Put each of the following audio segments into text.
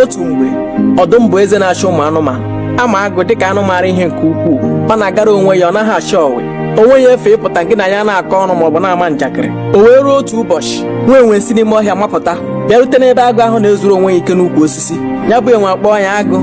otu mgbe ọdụm bụ eze na-achị ụmụ anụmanụ a ma agụ dịka anụ maara ihe nke ukwuu ọ na-agara onwe ya ọ naghị achọ ọwe o nweghị efe ịpụta gị na ya na-akọ ọnụ maọbụ na-ama njakịrị o wee ruo otu ụbọchị nwa enwe si n'ime ọhịa mapụta bịarute n'ebe agụ ahụ na-ezuru onwe ya ike n'ukwu osisi ya bụ enwe akpọọ ya agụ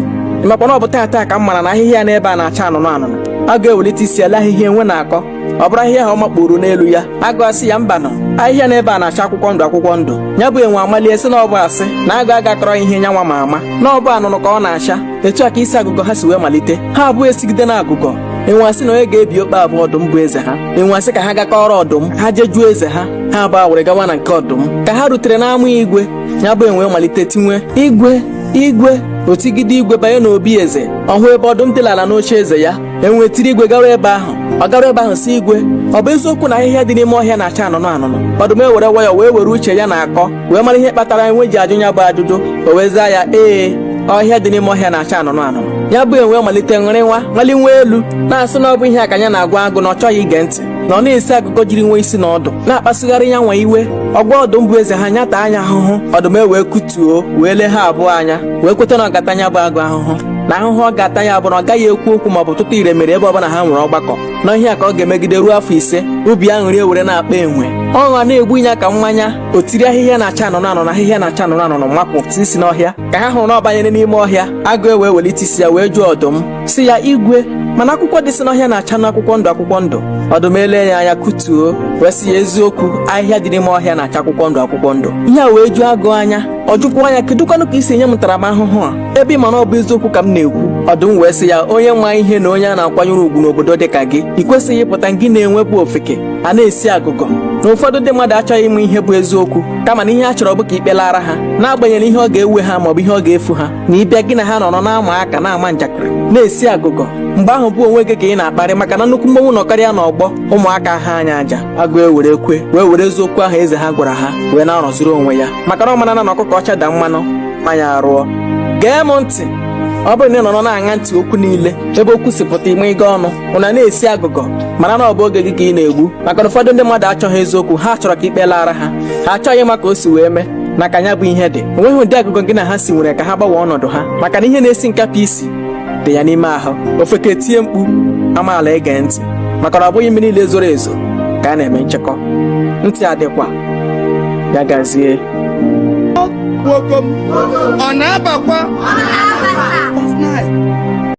ị makwa na ọ bụ taata ka m mara na ahịhịa n'ebe a na-acha anụnụ anụnụ agụ ewelite isi ele ahịhịa enwe na-akọ ọ bụrụ ahịhịa ahụ ọ makpuru n'elu ya agụ asị ya mbanụ ahịhịa n'ebe a na-acha akwụkwọ ndụ akwụkwọ ndụ ya bụ enwe amalie sị na ọ bụ asị na agụ aga akọrọ ihe nyanwa ma ama na ọ bụ anụnụ ka ọ na-acha etu a ka isi agụgọ ha si wee malite ha abụọ esigide na agụgọ enwe asị na onye ga-ebi okpe a bụ ọdụm bụ eze ha enwe asị ka ha ga kọọrọ ọdụm ha je jụọ eze ha ha abụọ ewere gawa na nke ọdụm ka ha rutere n'ama igwe ya bụ enwe malite tiwe igwe igwe o tigide igwe banye n'obi eze ọ hụ ebe ọdụm dịlara n'oche eze ya enwe tiri igwe gawa ebe ahụ ọ gara ebe ahụ sị igwe ọ bụ eziokwu na ahịhịa dị n'ime ọhịa na-acha anụnụ anụnụ ọdụm ewere nwayọ wee were uche ya na-akọ wee mara ihe kpatara enwe ji ajụ ya bụ ajụjụ o wee zaa ya ee ahịhịa dị n'ime ọhịa na-acha anụnụ anụnụ ya bụ enwe malite ṅụrịwa maliwe elu na-asị na ọ bụ ihe a ka ya na-agwa agụ na ọ chọghị ige ntị na ọ na-esi agụgọ jiri enweghị isi na ọdụ na-akpasugharị ya nwa iwe ọ gwa ọdụm bụ eze ha ya taa ya ahụhụ ọdụm ewee kutuo wee lee ha abụọ anya wee kweta na ọ ga-ata ya bụ agụ ahụhụ na ahụhụ ọ ga-ata ya bụ na ọ gaghị ekwu okwu maọbụ tụta ire mere ebe ọbụla ha nwere ọgbakọ na ihe a ka ọ ga-emegide ruo afọ ise obi aṅụrị ewere na-akpa enwe ọṅụ a na-egbu ya ka mmanya o tiri ahịhịa na-acha anụnụ anụnụ ahịhịa na-acha anụnụ anụnụ makpuo isi n'ọhịa ka ha hụrụ na ọ banyere n'ime ọhịa agụ ewee welite isi ya wee jụọ ọdụm sị ya igwe mana akwụkwọ dịsị n'ọhịa na-achanụ akwụkwọ ndụ akwụkwọ ndụ ọdụm ele ya anya kutuo wee sị ya eziokwu ahịhịa dị n'ime ọhịa na-acha akwụkwọ ndụ akwụkwọ ndụ ihe a wee ju agụ anya ọ jụkwuo ya kedụkwanụ ka i si nye m ntaramahụhụ a ebe ị ma na ọ bụ eziokwu ka m na-ekwu ọdụm wee sị ya onye ma ihe na onye a na-akwanyere ugwu n'obodo dị ka gị ị kwesịghị ịpụta gị na enwe bụ ofeke a na-esi agụgọ na ụfọdụ ndị mmadụ achọghị ịma ihe bụ eziokwu kama na ihe ha chọrọ bụ ka ikpe laara ha n'agbanyeghị ihe ọ ga-ewe ha maọbụ ihe ọ ga-efu ha na ịbịa gị na ha nọrọ na-ama aka na-ama njakịrị na-esi agụgọ mgbe ahụ bụ onwe gị ka ị na-akparị maka na nnukwu mmanwụ nọkarịa n'ọgbọ ụmụaka aghaa ya aja agụ ewere kwe wee were eziokwu ahụ eze ha gwara ha wee na-arọziri onwe ya maka na ọ mara na ọkụkọ ọcha daa mmanụ mma ya arụọ gee m ntị ọ bụrụ na ị nọrọ na-aṅa ntị okwu niile ebe okwu si pụta ime ịga ọnụ unu ana-esi agụgọ mara na ọ bụ oge gị ka ị na-egbu maka na ụfọdụ ndị mmadụ achọghị eziokwu ha chọrọ ka ikpe laara ha ha achọghị ịma ka o si wee mee na ka ya bụ ihe dị o nweghị ụdị agụgọ gị na ha si nwere ka ha gbanwee ọnọdụ ha maka na ihe na-esi nkapị isi dị ya n'ime ahụ ofeke tie mkpu amaala ege ntị maka na ọ bụghị mmiri niile zoro ezo ka a na-eme nchekọ ntị adịkwa ya gazie nwoke m ọ na-abakwa